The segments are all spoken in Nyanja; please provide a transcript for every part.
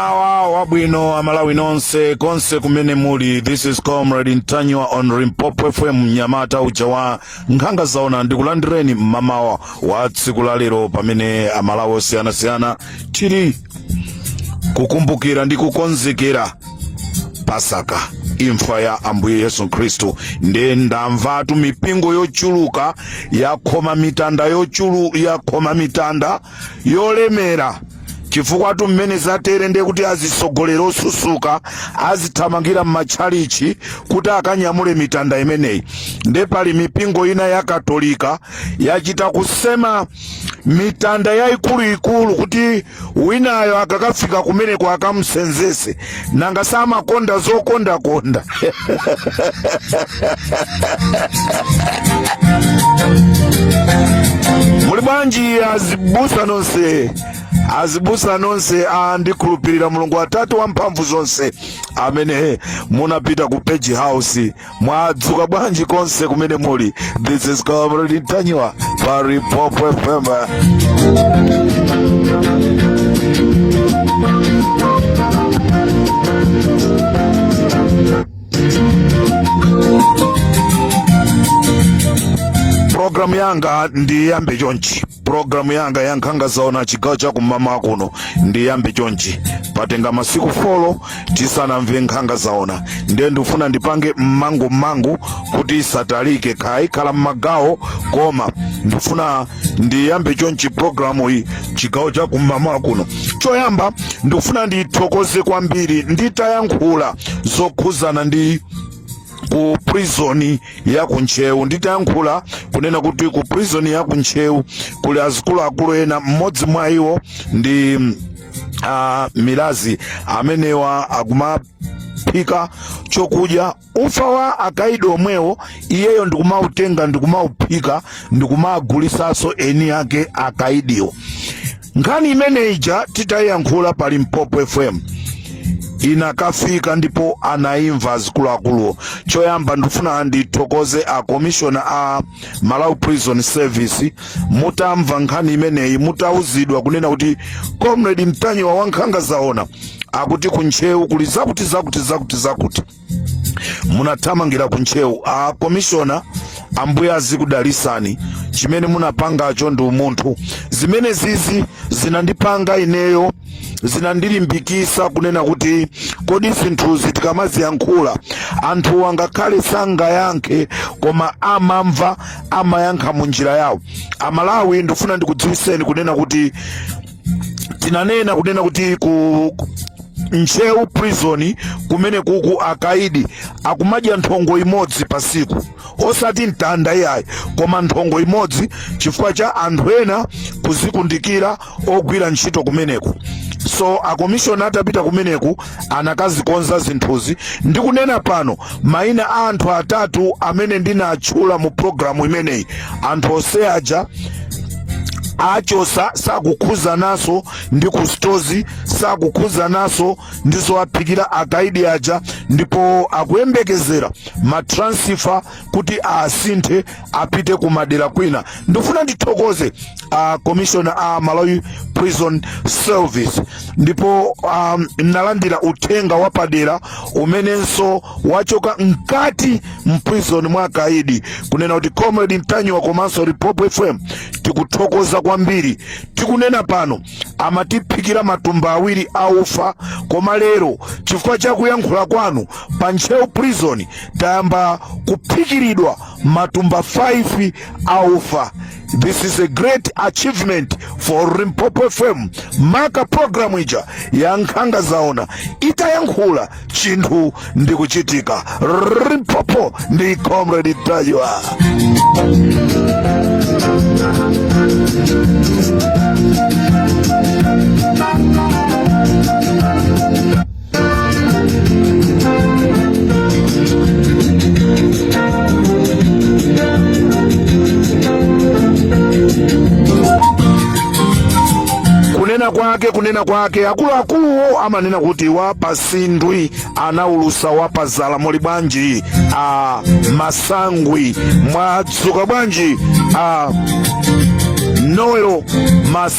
Mmawa wabwino amalawi nonse konse kumene muli this is comrade Ntanyiwa on Limpopo FM mnyamata uja wa nkhanga zaona ndikulandireni mmamawa wa tsiku la lero pamene amalawi osiyanasiyana tili kukumbukira ndi kukonzekera pasaka imfa ya ambuye yesu khristu nde ndamvatu mipingo yochuluka yakhoma mitanda yochulu yakhoma mitanda yolemera chifukwatu mmene zatere nde kuti azitsogoleri osusuka azithamangira m'matchalichi kuti akanyamule mitanda imeneyi nde pali mipingo ina ya katolika yachita kusema mitanda yayikuluikulu kuti winayo akakafika kumeneko akamusenzese nanga samakonda zokondakonda muli bwanji azibusa nonse azibusa nonse a ndikhulupirira mulungu atate wamphamvu zonse amene munapita ku page house mwadzuka bwanji konse kumene muli this is comrade ntanyiwa pa limpopo fm programu yanga ndiyambe chonchi Programu yanga ya nkhanga zaona chigawo cha kum'mawa kuno ndiyambe chonchi patenga masiku folo tisanamve nkhanga zaona ndiye ndifuna ndipange mmangummangu kuti isatalike khaya ikhala mmagawo koma ndifuna ndiyambe chonchi programu iyi chigawo cha kum'mawa kuno choyamba ndikufuna ndithokoze kwambiri nditayankhula zokhuzana ndi ku prison ya ku ntcheu nditayankhula kunena kuti ku prison ya ku ntcheu kuli azikuluakulu ena mmodzi mwa iwo ndi a milazi amenewa akumaphika chokudya ufa wa akaidi omwewo iyeyo ndikumautenga ndikumauphika ndikumagulisaso eni yake akaidiwo nkhani imeneyi ija titayiyankhula pa limpopo fm inakafika ndipo anaimva azikuluakuluwo choyamba ndifuna ndithokoze a commissioner a malawi prison service mutamva nkhani imeneyi mutauzidwa kunena kuti comrade ntanyiwa wa nkhanga zaona akuti kuntcheu kuli zakuti zakuti zakuti zakuti munathamangira ku ntcheu a komishona ambuye azikudalisani chimene munapangacho ndi umunthu zimene zizi zinandipanga ineyo zinandilimbikisa kunena kuti kodi zinthuzi tikamaziyankhula anthu angakhale sangayankhe koma amamva amayankha mu njira yawo amalawi ndifuna ndikudziwiseni kunena kuti tinanena kunena kuti ku ku- ntcheu prison kumeneku akaidi akumadya nthongo imodzi pasiku osati mtanda iyayi koma nthongo imodzi chifukwa cha anthu ena kuzikundikira ogwira ntchito kumeneku so akomishoni atapita kumeneku anakazikonza zinthuzi ndikunena pano maina a anthu atatu amene ndinatchula mu programu imeneyi anthu onse aja achotsa sakukhuzananso ndi kustozi sakukhuzananso ndi zowaphikira akaidi aja ndipo akuyembekezera matransfer kuti asinthe apite ku madera kwina ndifuna ndithokoze a commissioner a malawi prison service ndipo a, ndalandira uthenga wapadera umenenso wachoka mkati mprison mwa akaidi kunena kuti comrade ntanyiwa komanso limpopo fm tikuthokoza kwambiri tikunena pano amatiphikira matumba awiri a ufa koma lero chifukwa cha kuyankhula kwanu pa ntcheu prison tayamba kuphikiridwa matumba 5 a ufa this is a great achievement for limpopo fm maka programu ija ya nkhanga zaona itayankhula chinthu ndi kuchitika limpopo ndi comrade ntanyiwa kunena kwake kunena kwake akuluakuluwo amanena kuti wapatsindwi anaulusa wapazala muli bwanji a masangwi mwadzuka bwanji a noel mas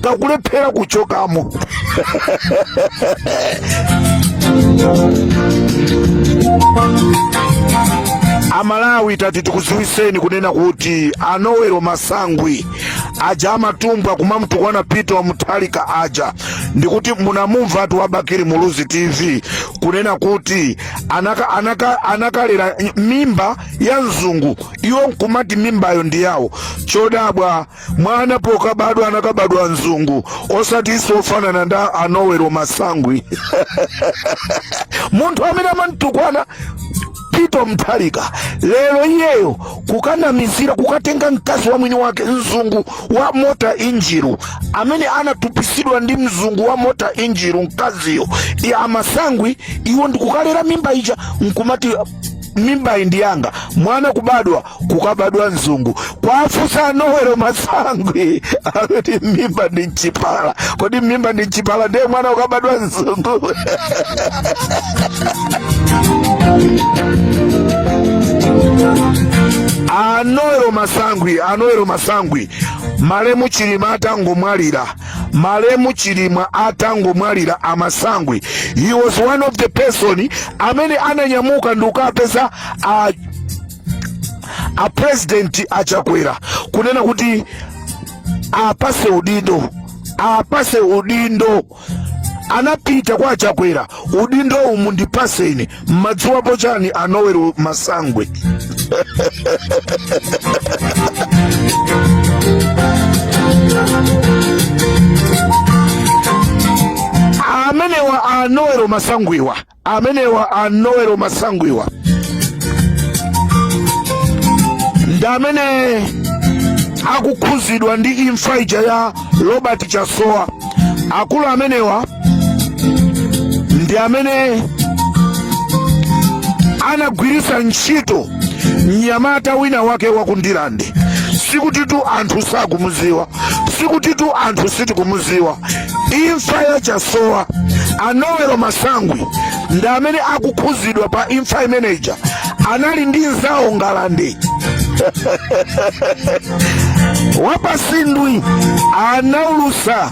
kakulephera kuchokamo amalawi tati tikuziwiseni kunena kuti a noel masangwi aja amatumbwa kumamtukwana peter wa mutharika aja ndikuti munamumvatu wa bakili muluzi tv kunena kuti anaka, anaka, anakalera mimba ya mzungu iwo nkumati mimbayo ndi yawo chodabwa mwana pokabadwa anakabadwa mzungu osatinso ofanana ndi a noel masangwi munthu amene amantukwana peter mutharika lero iyeyo kukanamizira kukatenga mkazi wa mwini wake mzungu wa mota engil amene anatupisidwa ndi mzungu wa mota engil mkaziyo ya a masangwi iwo ndikukalera mimba ija nkumati mimbayi ndi yanga mwana kubadwa kukabadwa mzungu kwafusa a noel masangwi akuti mmimba ndi mchipala kodi mmimba ndi mchipala ndiye mwana ukabadwa mzungu a noel masangwi a noel masangwi malemu chilima atangomwalira malemu chilima atangomwalira amasangwi he was one of the person amene ananyamuka ndikukapeza a a president achakwera kunena kuti apase udindo apase udindo anapita kwa achakwera udindowu mundipaseni mmadziwapo chani a noel masangwi amenewa a noel masangwiwa amenewa a noel masangwiwa ndi amene akukhuzidwa ndi imfa ija ya robert chasowa akulu amenewa ndi amene anagwiritsa ntchito mnyamata wina wake waku ndirande sikutitu anthu sakumuziwa sikutitu anthu sitikumuziwa imfa ya chasowa a noel masangwi ndi amene akukhuzidwa pa imfa imeneja anali ndi nzawo ngalande wapasindwi anaulusa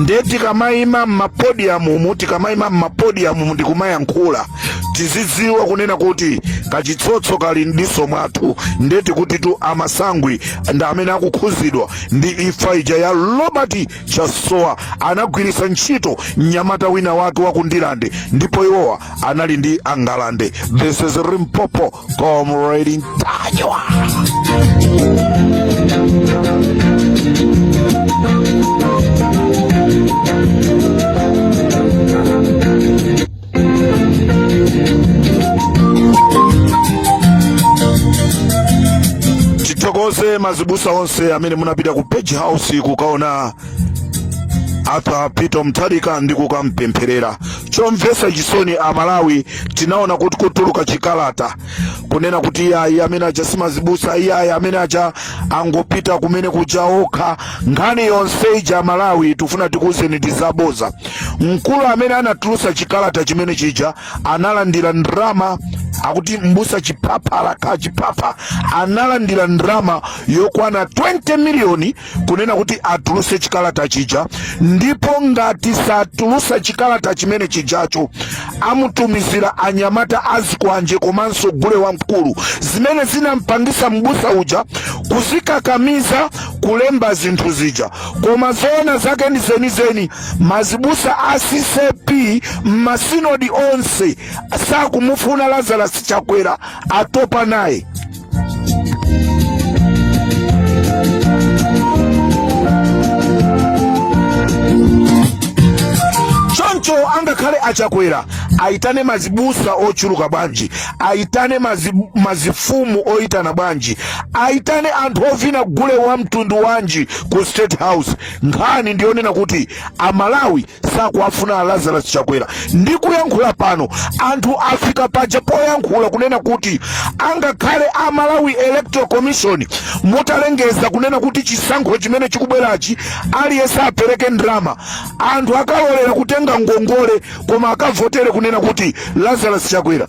nde tikamayima mmapodiyamumu tikamayima mmapodiyamumu ndikumayankhula tizidziwa kunena kuti kachitsotso kali mdiso mwathu nde tikutitu amasangwi ndi amene akukhuzidwa ndi imfa ija ya robert chasowa anagwiritsa ntchito mnyamata wina wake waku ndirande ndipo iwowa anali ndi angalande this is limpopo Comrade Ntanyiwa. tithokoze mazibusa onse amene munapita ku page house kukaona arthur peter mutharika ndi kukampempherera chomvetsa chisoni amalawi tinaona kuti kutuluka chikalata kunena kuti iyayi amene aja simazibusa iyayi amene aja angopita kumene kuja okha nkhani yonse ija amalawi tikufuna tikuwuzeni ndi zaboza mkulu amene anatulusa chikalata chimene chija analandira ndrama akuti mbusa chiphapha alakha chiphapha analandira ndrama yokwana 20 miliyoni kunena kuti atuluse chikalata chija ndipo ngati satulusa chikalata chimene chijacho amutumizira anyamata azikwanje komanso gule wamkulu zimene zinampangisa mbusa uja kuzikakamiza kulemba zinthu zija koma zoona zake ndi zenizeni mazibusa a ccap mmasinodi onse sakumufuna lazarus chakwera atopa naye choncho angakhale achakwera aitane mazibusa ochuluka bwanji aitane mazifumu oitana bwanji aitane anthu ovina gule wa mtundu wanji ku state house nkhani ndiyonena kuti amalawi sakuwafuna a lazarus chakwera ndikuyankhula pano anthu afika paja poyankhula kunena kuti angakhale a malawi electoral commission mutalengeza kunena kuti chisankho chimene chikubwerachi aliyense apereke ndalama anthu akalolera kutenga ngongole koma akavotere kunena kuti lazarus chakwera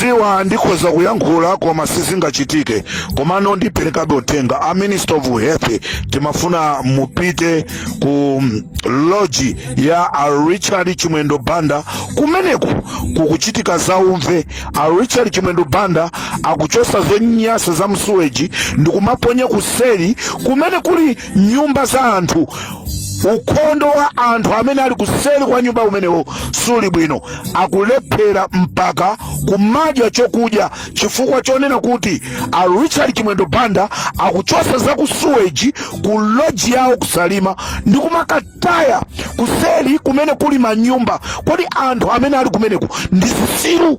Ziwa ndikhoza kuyankhula koma sizingachitike komano ndiperekabe uthenga a minister of health timafuna mupite ku loji ya a richard chimwendo banda kumeneku kukuchitika zaumve a richard chimwendo banda akuchosa zonyasa za msuweji ndikumaponya kuseri kumene kuli nyumba za anthu ukhondo wa anthu amene ali kuseri kwa nyumba umenewo suli bwino akulephera mpaka kumadya chokudya chifukwa chonena kuti a richard chimwendo banda akuchosa za kusuweji ku loji yawo ku salima ndi kumakataya kuseri kumene kuli manyumba kodi anthu amene ali kumeneku ndi zisiru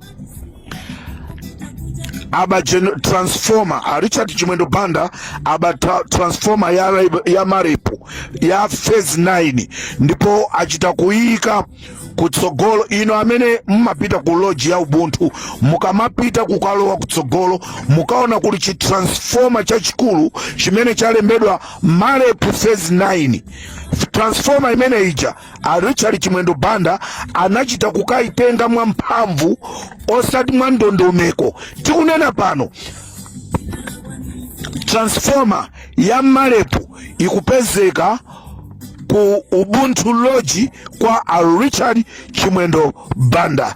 aba transformer a richard chimwendo banda aba transformer ya marep ya phase 9 ndipo achita kuyika kutsogolo inu amene mmapita ku loji ya ubuntu mukamapita kukalowa kutsogolo mukaona kuli chitransformer chachikulu chimene chalembedwa marep phase 9 transformer imene ija a richard chimwendo banda anachita kukayitenga mwamphamvu osati mwa ndondomeko tikunena pano transformer ya marep ikupezeka ku ubuntu lodge kwa a richard chimwendo banda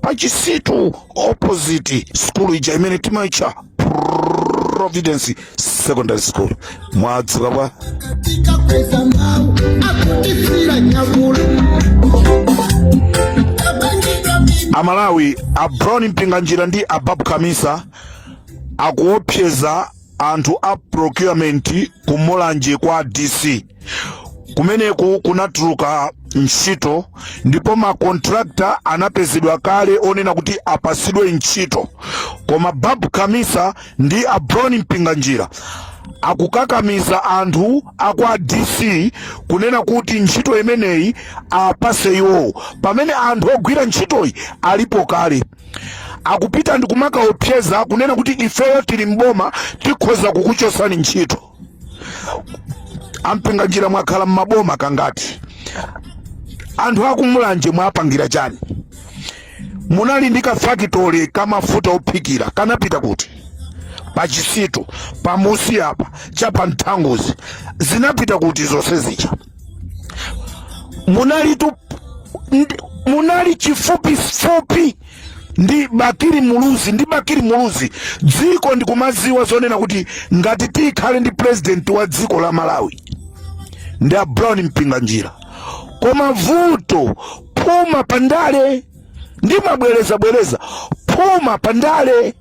pachisitu opposite skulu ija imene timaitcha providence secondary school mwadzuka bwa amalawi a brown mpinganjira ndi a babu kamisa akuopseza anthu a procurement ku mulanje kwa dc kumeneku kunatuluka ntchito ndipo makontrakta anapezedwa kale onena kuti apasidwe ntchito koma babu kamisa ndi a brown mpinganjira akukakamiza anthu akwa dc kunena kuti ntchito imeneyi apase iwowo pamene anthu ogwira ntchitoyi alipo kale akupita ndi kumakaopseza kunena kuti ifeyo tili mboma tikhoza kukuchosani ntchito a mpinganjira mwakhala mmaboma kangati anthu akumulanje mwapangira chani munali ndi kafakitole kamafuta ophikira kanapita kuti pachisitu pamusi apa cha pa nthanguzi zinapita kuti zonse zija munali tu ndi- munali chifupifupi ndi Bakili Muluzi ndi Bakili Muluzi dziko ndikumaziwa zonena kuti ngati tikhale ndi president wa dziko la Malawi ndi a Brown Mpinganjira koma vuto phuma pandale ndimabwerezabwereza phuma pandale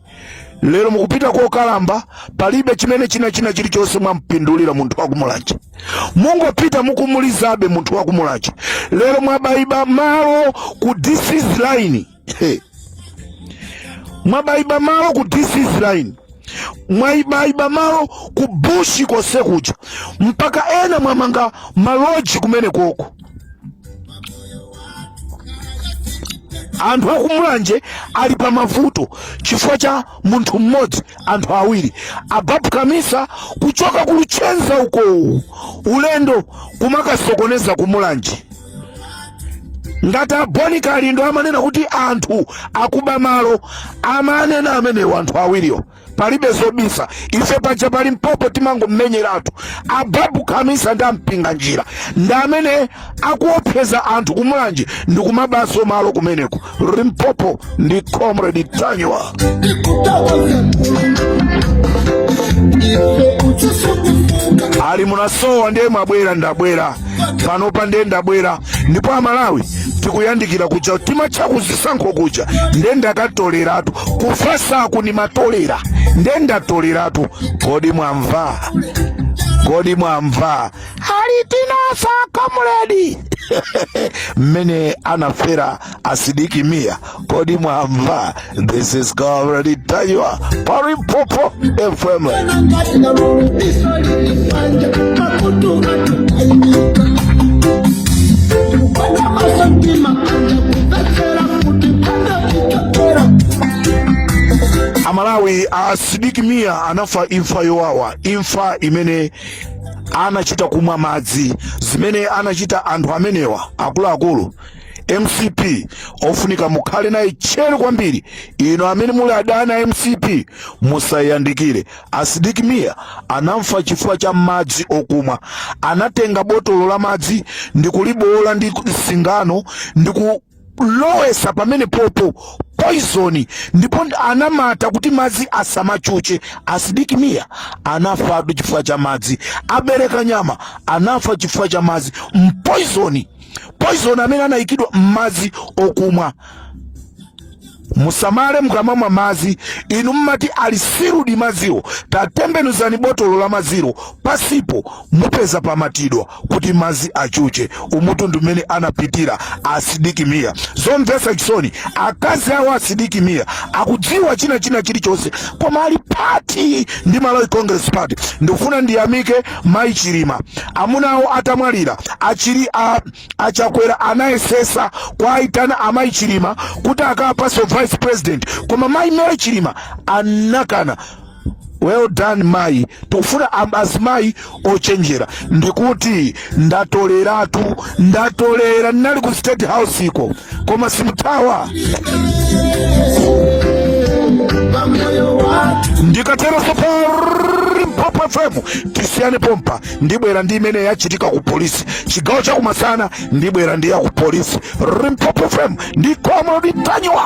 lero mukupita kokalamba palibe chimene china china chilichonse mwampindulira munthu wakumulanje mungopita mukumulizabe munthu wakumulanje lero mwabayiba malo ku DC's line He. mwabayiba malo ku DC's line mwayibayiba malo ku bushi konse kuja mpaka ena mwamanga maloji kumene koko anthu akumulanje ali pa mavuto chifukwa cha munthu mmodzi anthu awiri a babu kamisa kuchoka kuluchenza uko ulendo kumakasokoneza kumulanje ngati a bon kalindo amanena kuti anthu akuba malo amanena amenewo anthu awiriwo palibe zobisa ife paja pa limpopo timangomenyeratu a babu kamisa ndi a mpinganjira ndi amene akuopseza anthu kumulanje ndi kumabaso malo kumeneko limpopo ndi comrade ntanyiwa ali munasowa ndiye mwabwera ndabwera panopa nde ndabwera ndipo amalawi tikuyandikira kuja timatcha kuzisankho kuja nde ndakatoleratu kufasaku ndimatolera nde ndatoleratu kodi mwamva kodi mwamva ali tinasa comrade mmene anafera a sidik mia kodi mwamva this is Comrade Ntanyiwa pa Limpopo FM amalawi a Sidik Mia anafa imfa yowawa imfa imene anachita kumwa madzi zimene anachita anthu amenewa akuluakulu mcp ofunika mukhale naye tcheru kwambiri inu amene muli adani a mcp musayandikire a Sidik Mia anafa chifukwa cha madzi okumwa anatenga botolo la madzi ndikuliboola ndi singano ndikulowesa pamenepopo poizoni ndipo anamata kuti madzi asamachuche a Sidik Mia anafatu chifukwa cha madzi a Belekanyama anafa chifukwa cha madzi mpoizoni poison amene anayikidwa m'madzi okumwa musamale mukamamwa madzi inu mmati ali sealed madziwo tatembenuzani botolo la madzilo pansipo mupeza pamatidwa kuti madzi achuche umutu ndi mmene anapitira a Sidik Mia zomvetsa chisoni akazi awo a Sidik Mia akudziwa china china chilichonse koma ali pati ndi malawi congress party ndikufuna ndiyamike Mai Chilima amuna awo atamwalira achili a, a Chakwera anayesesa kwaitana amai Chilima kuti akawapatse u vice president koma mai Mary Chilima anakana well done mai tikufuna azimayi ochenjera ndikuti ndatoleratu ndatolera ndinali ku state house iko koma simuthawa ndikatero so pa Limpopo FM tisiyane pompa ndibwera ndi imene yachitika ku polisi chigawo chakumasana ndibwera ndi ya ku polisi Limpopo FM ndi Comrade Ntanyiwa